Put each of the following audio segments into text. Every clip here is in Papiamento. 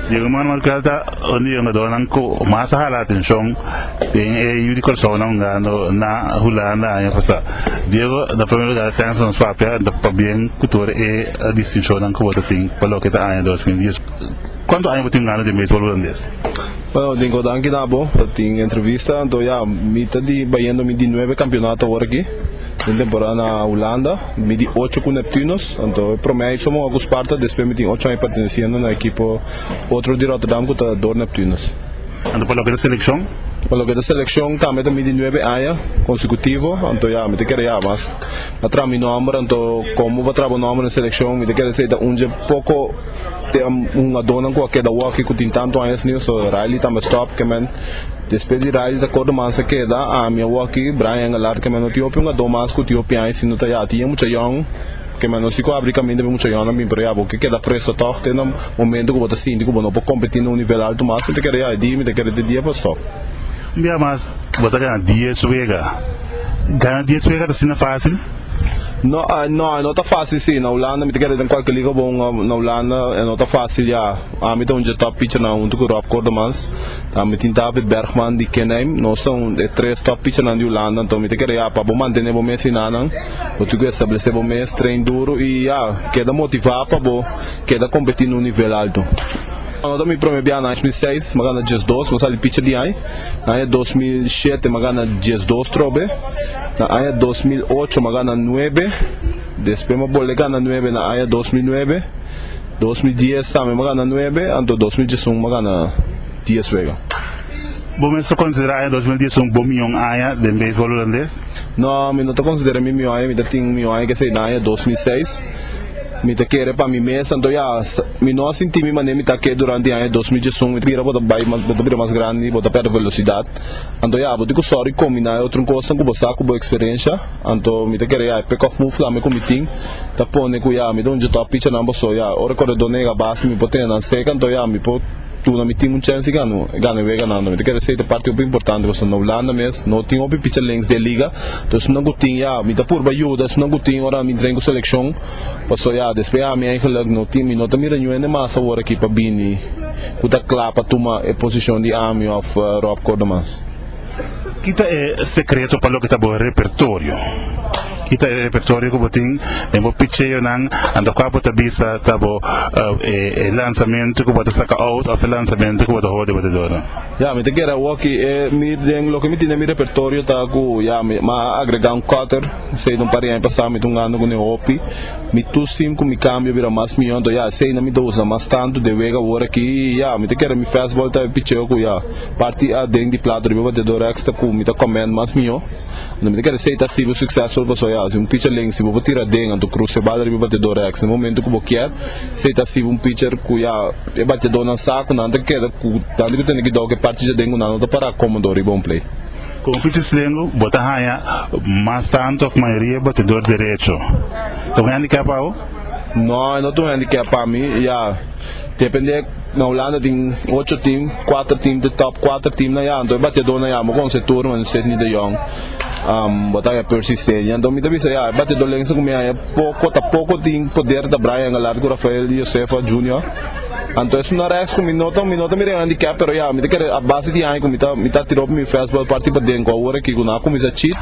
Di ruman Markel ta un di yungadónan ku mas a hala atenshon den e yu di Kòrsounan hungando na Hulanda aña pasá. Diego ta promé bigada tèns pa nos papia i ta pabien ku tur e distinshonnan ku bo ta tin pa loke ta aña dos mil dies. Kuantu aña bo tin hungando den beisbòl hulandes? Bueno, tin ku danki na bo pa tin entrevista. Anto ya, mi ta di bayendo mi di nuebe kampionato awor aki. Den temporada na Hulanda mi di ocho ku Neptunus, anto e promé ai somoga ku Sparta, despues mi tin ocho ai pertenesiendo na ekipo otro di Rotterdam ku ta Door Neptunus. Anto pa loke ta selekshon? Pa loke ta selekshon tambe ta mi di nuebe aña konsekutivo, anto ya mi ta kere ya mas a traha mi nòmber, anto komo pa traha bo nòmber na selekshon mi ta kere si ta un dje poko te hungadónan ku a keda wòki ku tin tantu añas niu, so Riley tambe stòp, Kemen. Despues di radio ta kor duman sa keda ami awo aki Brian Alar keme no tin hopi un ado mas ku tin hopi aña si no ta ya tin e mucha yon keme no si ku abri kaminda pa e mucha yonnan bin pero ya bo ke keda preso tog te na momento ku bo ta sinti ku bo no por kompeti na un nivel alto mas mi ta kere ya e dia mi ta kere te dia pa stop. Un bia mas bo ta gana dies wega gana dies wega ta asina fasil? No no e no ta fasil si na Hulanda mi ta kere den kualke liga bo na Hulanda e no ta fasil ya. Ami ta un dje top pichernan huntu ku Rob Kordemanns. Tambe tin David Bergman di Kenheim. Nos ta un e tres top pichernan di Hulanda. Anto mi ta kere ya pa bo mantene bo mes hinanan. Bo tin ku establesé bo mes, train duru i ya keda motivá pa bo keda kompetí na un nivel altu. Anu ta mi promé biaha. Na aña dos mil seis mi a gana djes dos, mi a sali picher di ai. Na aña dos mil shete mi a gana djes dos trobe. Na aña dos mil ocho mi a gana nuebe. Despues mi a bolbe gana nuebe na aña dos mil nuebe. Dos mil dies tambe mi a gana nuebe, anto dos mil diesun mi a gana dies wega. Bo mes ta konsiderá aña dos mil diesun bo mion aña den beisbòl hulandes? No, mi no ta konsiderá mi mion aña, mi ta tin un mion aña ku esei na aña dos mil seis. Mi ta kere pa mi mes, anto ya mi no a sinti mi manera mi ta ke durante aña dos mil diesun. Mi bira bo ta bai mas, bo ta bira mas grandi, bo ta pèrdè velosidat, anto ya bo tin ku sòru i kombiná e otro kosnan ku bo sa ku bo eksperensha. Anto mi ta kere ya, pekòf move flame ku mi tin ta pone ku ya mi ta hunchi tòg pichanan boso ya, ora koredó nega base mi por tene nan seka anto ya mi por duna mi tim un chènsi gana gana e weganan anto mi ta kere sey ta parti hopi importante pasobra na Hulanda mes no tin hopi picha links di e liga to esun nan ku tin ya mi ta purba yuda esun nan ku tin ora mi tren ku selekshon paso ya despues ya mi eigenlik no tin mi no ta mira ninhun hende mas awor aki pa bini ku ta kla pa tuma e posishon di ami òf Rob Kordemans. Kita e sekreto pa loke ta bo repertorio? Kita e repertorio ku bo tin den bo picheonan anto kua bo ta bisa ta bo e lansamentu ku bo ta saka out of e lansamentu ku bo ta hoor di bo dedora? Ya mi ta keda woki e mi den loke mi tin den mi repertorio ta ku ya mi a agrega un cutter esei ta un par di aña pasa mi ta un anda ku ne hopi mi tu sim ku mi kambio a bira mas miyon to ya esei nan mi ta usa mas tantu de wega wor aki ya mi ta keda mi fastball ta e picheo ku ya. Parti A den di plato riba bateador extra cu mi ta comment mas miho. Anto mi ta kere say ta sibo successful paso ya si un pitcher ling si bo por tira den anto cruz cebada riba bateador extra e momento cu bo kier say ta sibo un pitcher cu ya e bateador nan sa cu nan ta keda cu tanto cu tene cuidao cu e parti djaden cu nan no ta para comodo riba un play. Como pitchers ling bo ta haya mas tanto of mayoria e bateador derecho ta un handicap pa bo? No e no ta un handicap pa mi ya depende. Na Hulanda tin ocho tim, kuater tim te top kuater tim na ya, anto e batiador na ya bo con Seturno en Sidney de Jong, bo ta haña Percy Senior, anto mi ta bisa ya e batiadorlense cu mi haña poco ta poco tin poder ta Brian Engelhardt cu Rafael Josefa Junior, anto es una rex cu mi no ta mi no ta mira en handicap pero ya mi ta kere a base di aña cu mi ta mi ta tira op mi fastball parti pa den cu awor aki cu no a cuminsa chit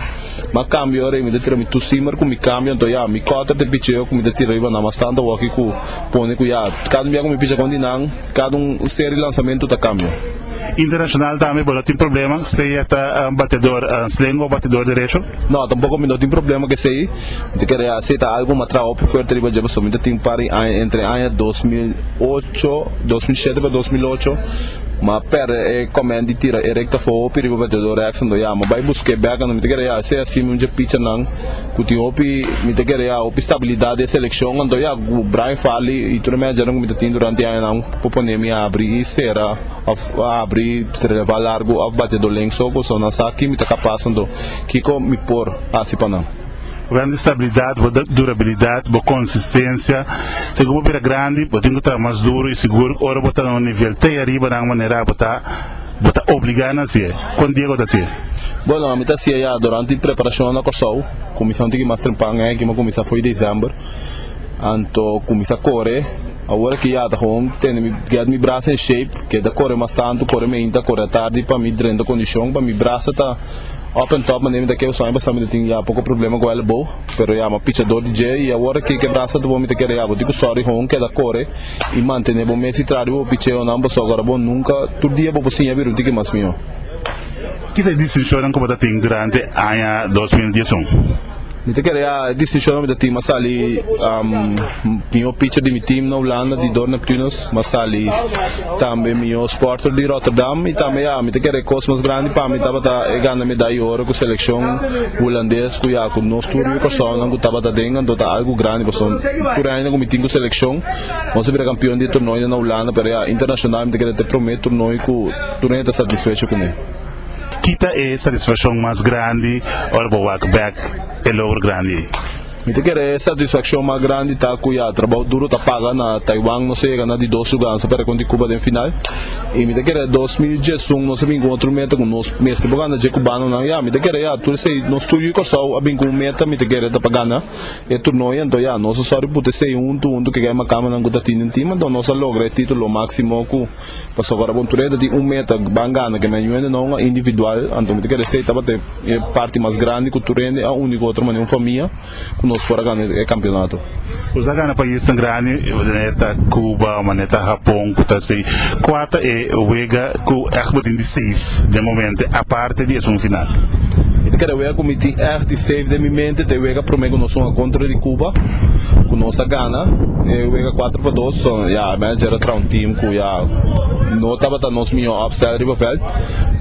ma cambio mi ta tira mi two seamer cu mi cambio anto ya mi cutter te picheo cu mi ta tira riba na mas tanto awor aki cu pone cu ya cada un bia cu mi picha con di nan, cada un serie di lanzamento ta cambia. Internacional tambe bo no tin problema si e ta un bateador sling o bateador derecho? No, tampoco mi no tin problema cu esey. Mi ta kere haci ta algo mi a traha hopi fuerte riba dje pasobra mi ta tin un par di aña entre aña dos mil ocho, dos mil shete pa dos mil ocho mi a perde e comment di tira e recta fo hopi riba bateador Exandon. Ya mi a bay busca e beca mi ta kere haci asina un dje picha nan. Cu tin hopi mi ta kere ya hopi stabilidad den seleccion, anto ya cu Brian Farley y tur e managernan cu mi ta tin durante e añanan por pone mi abri y cera of abri releva largo of bateador length so cu so nan sa ki mi ta capaz anto kico mi por haci pa nan. Bo gana di stabilidad, bo durabilidad, bo consistencia. Segun bo bira grandi bo tin cu traha mas duro y sigur ora bo ta na un nivel te ariba nan manera bo ta. Bo ta obligá nan si'é. Kon Diego ta si'é? Bueno, mi ta si'é ya. Durante e preparashonnan na Kòrsou, kuminsá un tiki mas trempau n'e aki, mi a kuminsá afó di desèmber. Anto kuminsá kore. Awor aki ya ta gewoon tende mi, gèt mi brasa en shape. Keda kore mas tantu, kore meinta, kore atardi pa mi drenta kondishon, pa mi brasa ta up en top manera mi ta kere. Esnan aña pasá mi ta tin ya poko problema ku èlbo, pero ya mi a pichador di dje i awor aki ke brasa ta bon mi ta kere ya bo tin ku sòri gewoon keda kore. I mantene bo mes i tras di bo picheonan pasobra ku ora bo nunka, tur dia bo por siña biruta di ke mas mihó. Kiko e distinshonnan ku bo ta tin durante aña dos mil dies un? Mi ta kere e distinshonnan mi ta tin mas sali mihó picher di mi tim na Hulanda di Dort Neptunus, mas sali tambe mihó sporter di Rotterdam i tambe ya mi ta kere kos mas grandi pa mi tabata e gana medai i oro ku selekshon hulandes ku ya ku nos tur yu persona ku tabata den anto ta algu grandi pasobra tur e añanan ku mi tin ku selekshon Nos a bira kampion di turnoi den Hulanda, pero ya internashonal mi ta keda ta e promé turnoi ku tur hende ta satisfecho ku mi. Ki ta e satisfakshon mas grandi ora bo wak bèk e logro grandi ei? Mi ta kere e satisfakshon mas grandi ta ku ya trabou duro ta paga. Na Taiwan nos a yega na di dos lugar, nos a perde kontra di Cuba den final. I mi ta kere dos mil diesun nos a bin ku otro meta ku nos mester por gana dje kubanonan. Ya mi ta kere ya tur esei nos tur yu Kòrsou a bin ku un meta mi ta kere ta pa gana. E turnoe anto ya nos a sòri put esei huntu huntu keke macamanan cu ta tin den tim anto nos a logra e titulo maximo cu pasobra ora Aventurero ta tin un meta ban gana ke men hende no a individual anto mi ta kere esei tabata e parti mas grandi cu tur hende a uni cu otro manera un famia cu nos por a gana e campeonato. Nos a gana paisnan grandi manera ta Cuba manera ta Japon cu ta esei cua ta e wega cu echt batin di safe den momento. Te di esun final. E ta keda wega ku mi tin èg di seif den mi mente. Te wega promé ku nos hunga kontra di Kuba ku nos a gana e wega kuater pa dos. Ya, mi a jere traha un tim ku ya no tabata nos mihó òpstèl riba vèlt.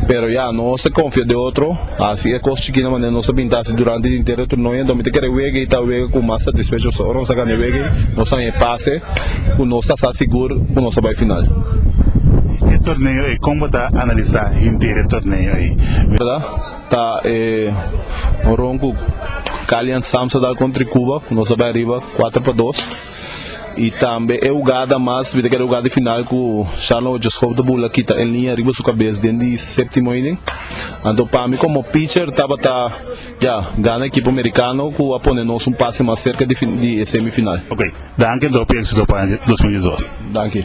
Pero ya nos a konfia den otro. Hasi e kos chikina manera nos a bini ta hasi durante di henter e turnoe. Anto mi ta kere wega ei ta wega ku mas satisfecho. Pasobra ora nos a gana e wega ei nos a haña e pase. ku nos ta sa sigur ku nos ta bai final. E torneo ei, kon bo ta analisá henter e torneo ei? Mi ta da ta e ron ku Cali and Sams a dal kontra Cuba ku nos ta bai ariba kuater pa dos i tambe e hugada mas mi ta kere hugada di final ku Sharlon Ochoskov ta bula kita el niña riba su kabes den di séptimo inning. Anto pa mi komo pitcher tabata. Ya, gana ekipo merikano ku a pone nos un pase mas serka di e semifinal. Ok, danki Dropi, éksito pa dos mil diesdos. Danki.